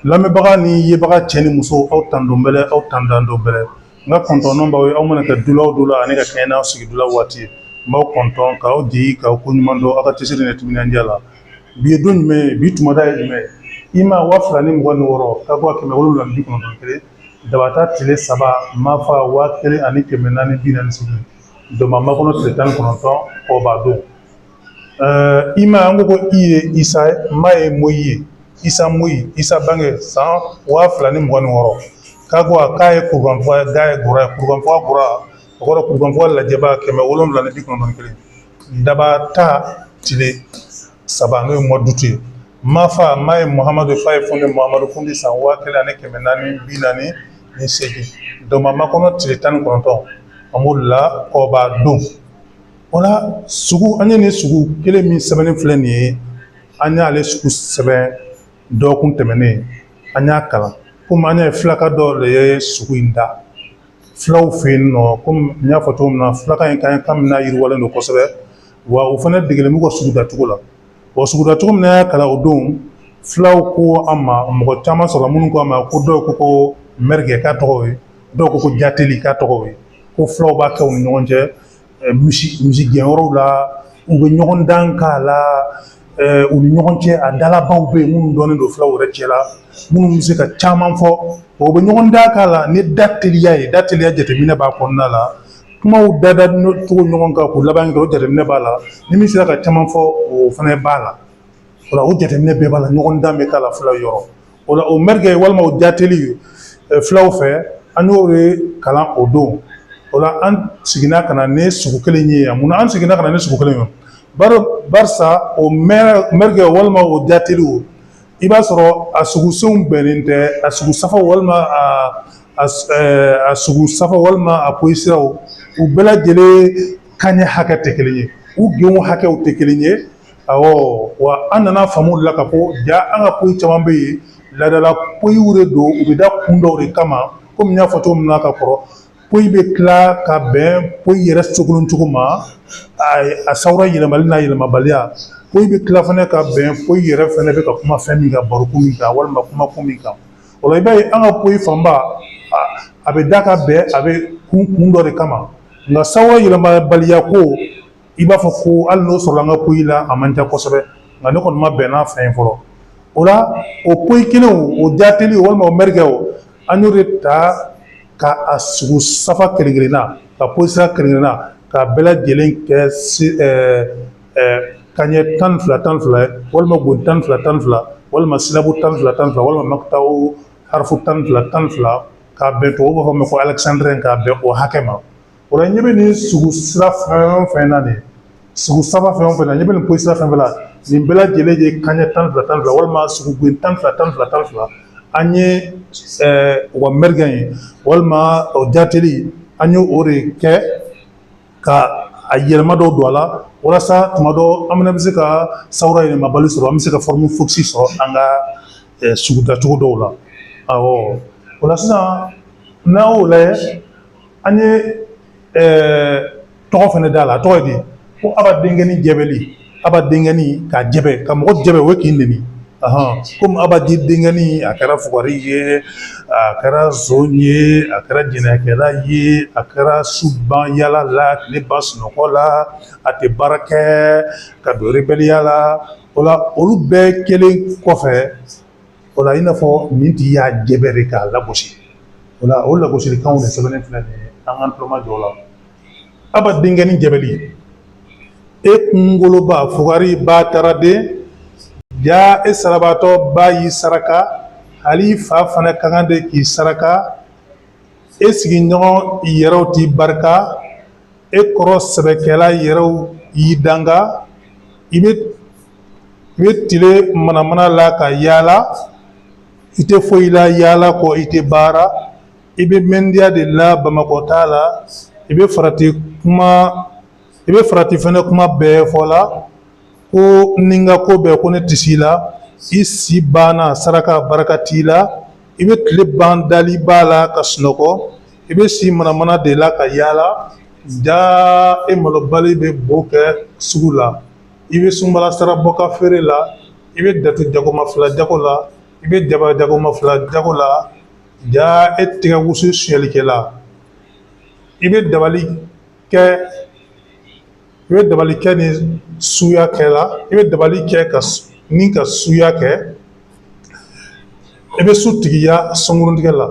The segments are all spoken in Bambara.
lamɛnbaga ni yebaga cɛ ni muso aw tando bɛlɛ aw tandando bɛlɛ n ka kɔntɔn b'aw ye aw mana kɛ dula o dula ani ka kɛɲɛ n'aw sigi dula waati ye n b'aw kɔntɔn k'aw di k'aw ko ɲuman dɔn aw ka cɛsiri ni timinandiya la bi ye don jumɛn ye bi tumada ye jumɛn ye i ma wa fila ni mugan ni wɔɔrɔ ka bɔ kɛmɛ wolonwula ni bi kɔnɔntɔn ni kelen dabata tile saba mafa waa kelen ani kɛmɛ naani bi naani ni seegin dɔnba makɔnɔ tile tan ni kɔnɔntɔn kɔba don i ma an ko ko i ye isa ma ye moyi ye isa moyi isa bange san waa fila ni mugan ni wɔɔrɔ k'a ko a ka ye kurukanfuga ye ga ye gora ye kurukanfuga gora o kɔrɔ kurukanfuga lajɛba kɛmɛ wolonwula ni bi kɔnɔntɔn ni kelen dabata tile saba n'o ye mois d'août ye mafa ma ye muhamadu fa ye fundi muhamadu fundi san waa kelen ani kɛmɛ naani bi naani ni seegin dɔnba makɔnɔ tile tan ni kɔnɔntɔn an b'o la kɔba don O la sugu an ye nin sugu kelen min sɛbɛnnen filɛ nin ye an y'ale sugu sɛbɛn dɔgɔkun tɛmɛnen an y'a kalan komi an ye filaka dɔ de ye sugu in da fulaw fɛ yen nɔ komi n y'a fɔ cogo min na filaka in kan ka mina yiriwalen don kosɛbɛ wa o fana degelen b'u ka sugu dacogo la wa sugu dacogo min y'a kalan o don fulaw ko an ma mɔgɔ caman sɔrɔ minnu ko an ma ko dɔw ko ko mɛrigɛ k'a tɔgɔ ye dɔw ko ko jateli k'a tɔgɔ ye ko fulaw b'a kɛ u ni ɲɔgɔn cɛ misigɛnyɔrɔw la u bɛ ɲɔgɔndan k'a la u ni ɲɔgɔn cɛ a dalabaw bɛ yen minnu dɔnnen don fulaw yɛrɛ cɛ la minnu bɛ se ka caman fɔ u bɛ ɲɔgɔndan k'a la ni da teliya ye da teliya jateminɛ b'a kɔnɔna la kumaw dada cogo ɲɔgɔn kan k'u laban kɛ o jateminɛ b'a la ni min sera ka caman fɔ o fana b'a la o la o jateminɛ bɛɛ b'a la ɲɔgɔndan bɛ k'a la fulaw yɔrɔ o la o mɛrigɛ walima o jateli fulaw fɛ an y'o de kalan o don o la an seginna ka na ni sugu kelen ye yan munna an seginna ka na ni sugu kelen ye bari barisa o mɛrigɛ walima o jateliw i b'a sɔrɔ a sugusenw bɛnnen tɛ a sugu safa walima a a sugu safa walima a poyi siraw u bɛɛ lajɛlen kaɲɛ hakɛ tɛ kelen ye u genw hakɛw tɛ kelen ye Ɔwɔ wa an nana faamu la ka ko ja an ka poyi caman bɛ yen laadala poyiw de don u bɛ da kun dɔw de kama komi n y'a fɔ cogo min na ka kɔrɔ poyi bɛ tila ka bɛn poyi yɛrɛ sogolon cogo ma a sawura yɛlɛmali n'a yɛlɛmabaliya poyi bɛ tila fana ka bɛn poyi yɛrɛ fana bɛ ka kuma fɛn min kan barokun min kan walima kuma kun min kan o la i b'a ye an ka poyi fanba a bɛ da ka bɛn a bɛ kun kun dɔ de kama nka sawura yɛlɛmabaliya ko i b'a fɔ ko hali n'o sɔrɔla an ka poyi la a man ca kosɛbɛ nka ne kɔni ma bɛn n'a fɛn ye fɔlɔ o la o poyi kelenw o jaateli walima o mɛrikɛw an y'o de ta ka a sugu safa kelen kelenna ka poyi sira kelen kelenna k'a bɛɛ lajɛlen kɛ si ɛɛ ɛɛ kaɲɛ tan ni fila tan ni fila ye walima goni tan ni fila tan ni fila walima silabu tan ni fila tan ni fila walima makitaw harifu tan ni fila tan ni fila k'a bɛn tubabuw b'a fɔ min ma ko alɛkisandɛrɛn k'a bɛn o hakɛ ma O la ɲɛ bɛ nin sugu sira fɛn o fɛn na nin sugu safa fɛn o fɛn na ɲɛ bɛ nin poyi sira fɛn fɛn la nin bɛɛ lajɛlen ye kanɲɛ tan fila tan fila walima sugu gon tan fila tan fila tan fila an ye u ka mɛrikɛ ye walima o jateli an ye o de kɛ ka a yɛlɛma dɔw don a la walasa tuma dɔ an bɛ bɛ se ka sawura yɛlɛmabali sɔrɔ an bɛ se ka forme fixe sɔrɔ an ka sugu dacogo dɔw la ɔ o sisan n'an y'o lajɛ an ye tɔgɔ fana d'a la a tɔgɔ ye di ko aba denkɛni jɛbɛli aba denkɛni ka jɛbɛ ka mɔgɔ jɛbɛ o ye k'i neni komi aba di denkɛni a kɛra fugari ye a kɛra zon ye a kɛra jɛnɛyakɛla ye a kɛra su ban yaala la tile ban sunɔgɔ la a tɛ baara kɛ ka don rebɛliya la o la olu bɛɛ kɛlen kɔfɛ o la i n'a fɔ nin tigi y'a jɛbɛ de k'a lagosi o la o lagosilikanw de sɛbɛnnen filɛ nin ye an k'an tuloma jɔ o la aba denkɛni jɛbɛli e kungoloba fugari bataraden jaa e salabaatɔ ba y'i saraka hali i fa fana ka kan de k'i saraka e sigiɲɔgɔn yɛrɛw t'i barika e kɔrɔ sɛbɛkɛla yɛrɛw y'i danga i bɛ i bɛ tile manamana la ka yaala i tɛ foyi la yaala kɔ i tɛ baara i bɛ mɛndiya de la bamakɔta la i bɛ farati kuma i bɛ farati fɛnɛ kuma bɛɛ fɔ la ko ni n ka ko bɛɛ ko ne tɛ si la i si banna saraka barika t'i la i bɛ tile ban daliba la ka sunɔgɔ i bɛ si manamana de la ka yaala jaa e malobali bɛ bo kɛ sugu la i bɛ sunbala sara bɔ ka feere la i bɛ datu jagoma fila jago la i bɛ jaba jagoma fila jago la jaa e tigɛ wusu suɲɛlikɛla i bɛ dabali kɛ i bɛ dabali kɛ ni suya kɛ la i bɛ dabali kɛ ka ni ka suya kɛ I bɛ su tigiya sunguruntigɛ la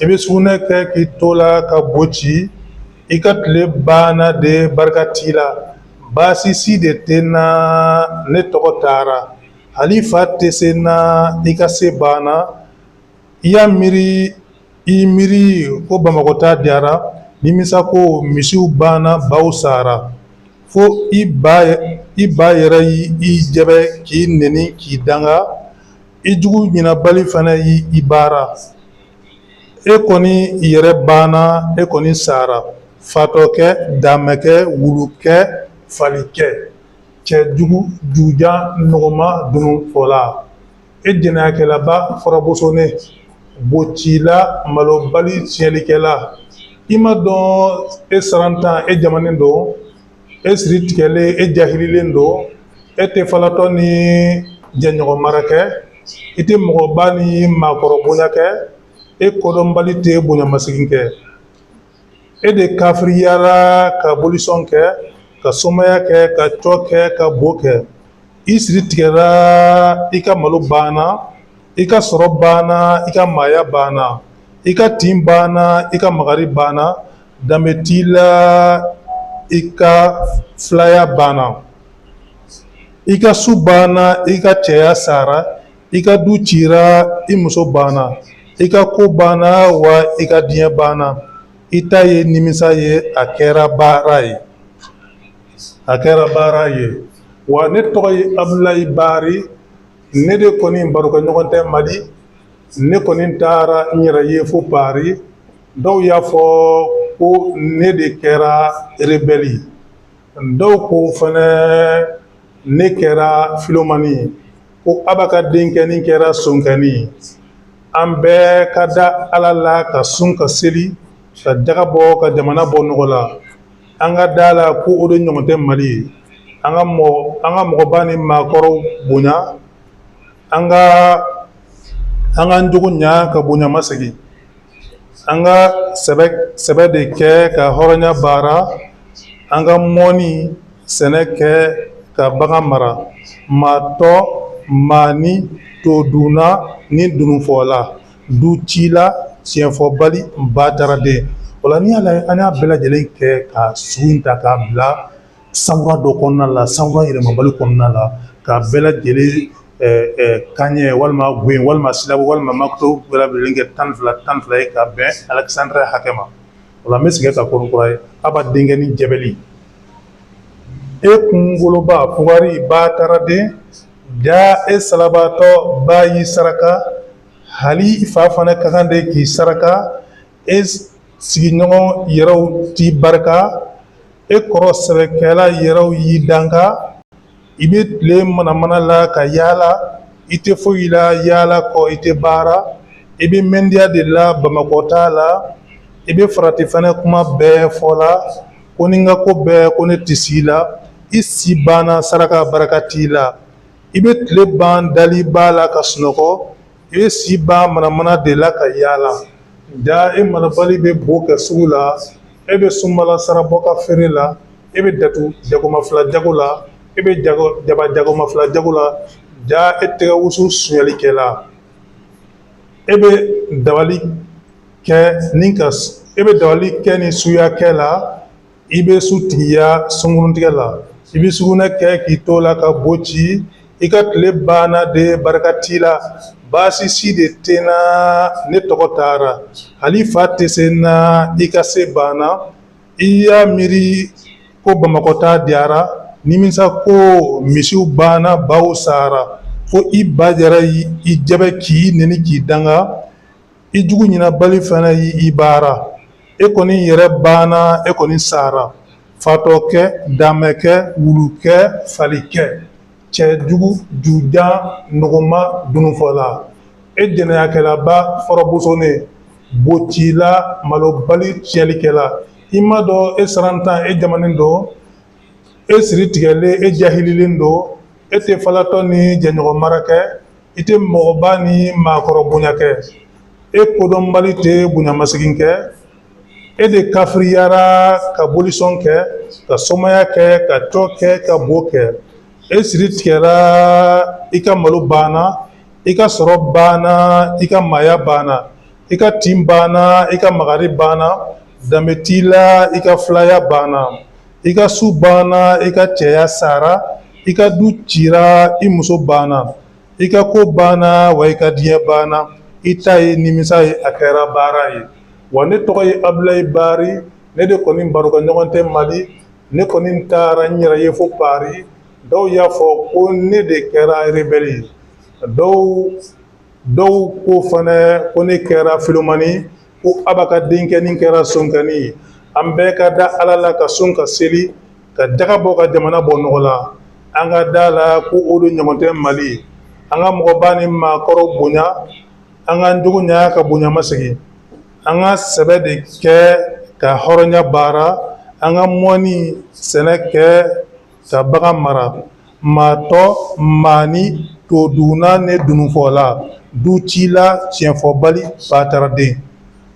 i bɛ sugunɛ kɛ k'i to la ka bo ci i ka tile banna de barika t'i la baasi si de tɛ n na ne tɔgɔ taara hali fa tɛ se n na i ka se banna i y'a miiri i miiri ko bamakɔta diyara nimisa ko misiw banna baw sara Fo i ba yɛrɛ y'i jɛbɛ k'i neni k'i danga i jugu ɲinabali fana y'i baara e kɔni yɛrɛ banna e kɔni sara fatɔkɛ damakɛ wulukɛ falikɛ cɛ jugu jujan nɔgɔma dununfɔla e jɛnɛyakɛlaba fɔrɔbosonen bocila malobali tiɲɛlikɛla i ma dɔn e sarantan e jamanen don e siri tigɛlen e jahililen don e tɛ falatɔ ni jɛɲɔgɔn mara kɛ i tɛ mɔgɔba ni maakɔrɔ bonya kɛ e kodɔnbali tɛ bonyamasegin kɛ e de kafiriyara ka bolisɔn kɛ ka somaya kɛ ka cɔ kɛ ka bo kɛ i siri tigɛra i ka malo banna i ka sɔrɔ banna i ka maaya banna i ka tin banna i ka magari banna danbe t'i la i ka filaya banna i ka su banna i ka cɛya sara i ka du cira i muso banna i ka ko banna wa i ka diɲɛ banna i ta ye nimisa ye a kɛra baara ye a kɛra baara ye wa ne tɔgɔ ye abudulayi bari ne de kɔni barokɛ ɲɔgɔn tɛ mali ne kɔni taara n yɛrɛ ye fo pari dɔw y'a fɔ ko ne de kɛra rebɛli dɔw ko fɛnɛ ne kɛra filomani ko aba ka denkɛnin kɛra sonkɛnin an bɛɛ ka da ala la ka sun ka seli ka jaga bɔ ka jamana bɔ nɔgɔ la an ka da la ko o de ɲɔgɔn tɛ mali ye an ka mɔgɔ an ka mɔgɔba ni maakɔrɔw bonya an ka an ka jogo ɲa ka bonya masegin an ka sɛbɛ sɛbɛ de kɛ ka hɔrɔnya baara an ka mɔnni sɛnɛ kɛ ka bagan mara maatɔ maa ni todunna ni dununfɔla ducila tiɲɛfɔbali bataraden o la n'i y'a lajɛ an y'a bɛɛ lajɛlen kɛ ka sugu in ta k'a bila sawura dɔ kɔnɔna la sawura yɛlɛmabali kɔnɔna la k'a bɛɛ lajɛlen kanɲɛ walima gwen walima silabu walima makoto bɛɛ lajɛlen kɛ tan fila tan fila ye ka bɛn alexandrin hakɛ ma o la n bɛ segin ka kɔrɔ kura ye aba denkɛnin jɛbɛli e kunkoloba fugari bataraden ja e salabaatɔ ba y'i saraka hali i fa fana ka kan de k'i saraka e sigiɲɔgɔn yɛrɛw t'i barika e kɔrɔ sɛbɛkɛla yɛrɛw y'i danga i bɛ tile manamana la ka yaala i tɛ foyi la yaala kɔ i tɛ baara i bɛ mɛndiya de la bamakɔta la i bɛ farati fana kuma bɛɛ fɔ la ko ni n ka ko bɛɛ ko ne tɛ s'i la i si banna saraka barika t'i la i bɛ tile ban dali ba la ka sunɔgɔ E si ban manamana de la ka yaala ja e marabali bɛ bo kɛ sugu la e bɛ sunbala sara bɔ ka feere la e bɛ datu jagoma fila jago la e bɛ jaba jagoma fila jago la ja e tɛgɛ wusu sonyalikɛla e bɛ dabali kɛ ni ka e bɛ dabali kɛ ni suya kɛ la i bɛ sutigiya sunguruntigɛ la i bɛ sugunɛ kɛ k'i to la ka bo ci i ka tile banna de barika t'i la baasi si de tɛ n na ne tɔgɔ taara hali fa tɛ se n na i ka se banna i y'a miiri ko bamakɔta diyara nimisa ko misiw banna baw sara fo i ba yɛrɛ y'i jɛbɛ k'i neni k'i danga i jugu ɲinabali fana y'i baara e kɔni yɛrɛ banna e kɔni sara fatɔkɛ damɛkɛ wulukɛ falikɛ cɛ jugu jujan nɔgɔma dununfɔla e jɛnɛyakɛlaba fɔrɔbosonen bocila malobali tiɲɛlikɛla i m'a dɔn e sarantan e jamanen don e siri tigɛlen e jahililen don e tɛ falatɔ ni jɛɲɔgɔn mara kɛ i tɛ mɔgɔba ni maakɔrɔ bonya kɛ e kodɔnbali tɛ bonyamasegin kɛ e de kafiriyara ka bolisɔn kɛ ka somaya kɛ ka tɔ kɛ ka bo kɛ e siri tigɛra i ka malo banna i ka sɔrɔ banna i ka maaya banna i ka tin banna i ka magari banna danbe t'i la i ka filaya banna i ka su banna i ka cɛya sara i ka du cira i muso banna i ka ko banna wa i ka diɲɛ banna i ta ye nimisa ye a kɛra baara ye wa ne tɔgɔ ye abulayi bari ne de kɔni barokɛ ɲɔgɔn tɛ mali ne kɔni taara n yɛrɛ ye fo pari dɔw y'a fɔ ko ne de kɛra rebɛli ye dɔw dɔw ko fana ko ne kɛra filomani ye ko aba ka denkɛnin kɛra sonkanni ye an bɛɛ ka da ala la ka sun ka seli ka jaka bɔ ka jamana bɔ nɔgɔ la an ka da la ko o de ɲɔgɔn tɛ mali ye an ka mɔgɔba ni maakɔrɔ bonya an ka jogo ɲa ka bonyamasegin an ka sɛbɛ de kɛ ka hɔrɔnya baara an ka mɔni sɛnɛ kɛ ka bagan mara Matɔ mani to dunna ne dununfɔla ducila tiɲɛfɔbali bataraden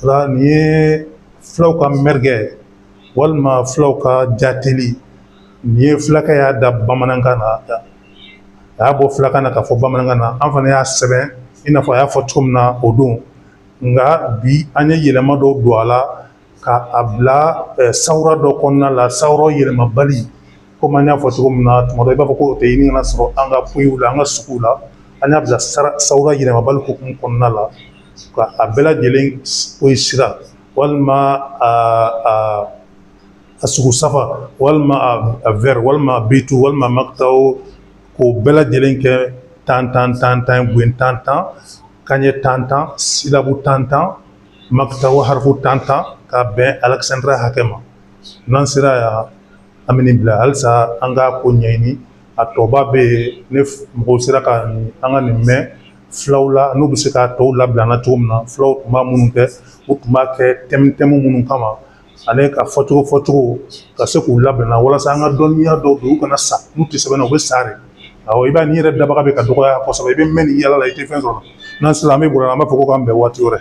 la nin ye fulaw ka mɛrigɛ walima fulaw ka jateli nin ye fulakɛ y'a da bamanankan na a y'a bɔ fulakan na k'a fɔ bamanankan na an fana y'a sɛbɛn i n'a fɔ a y'a fɔ cogo min na o don nka bi an ye yɛlɛma dɔw don a la ka a bila sawura dɔ kɔnɔna la sawura yɛlɛmabali komi an y'a fɔ cogo min na tuma dɔ i b'a fɔ ko o tɛ ɲini ka sɔrɔ an ka poyiw la an ka suguw la an y'a bila sawura yɛlɛmabali hukumu kɔnɔna la ka a bɛɛ lajɛlen poyi sira walima a a sugu safa walima a vɛri walima a bitu walima makitaw k'o bɛɛ lajɛlen kɛ tan tan gwen tan tan kanɲɛ tan tan silabu tan tan makita wa harifu tan tan ka bɛn alexandrin hakɛ ma n'an sera yan an bɛ nin bila halisa an k'a ko ɲɛɲini a tɔba bɛ yen ni mɔgɔw sera ka an ka nin mɛn fulaw la n'u bɛ se k'a tɔw labila an na cogo min na fulaw tun b'a minnu kɛ u tun b'a kɛ tɛmu tɛmu minnu kama ani ka fɔcogo fɔcogo ka se k'u labila an na walasa an ka dɔnniya dɔw don u kana sa n'u tɛ sɛbɛn na u bɛ sa de awɔ i b'a nin yɛrɛ dabaga bɛ ka dɔgɔya kosɛbɛ i bɛ mɛn nin yaala la i tɛ fɛn sɔrɔ n'an sera an bɛ bɔra an b'a fɔ ko k'an bɛn waati wɛrɛ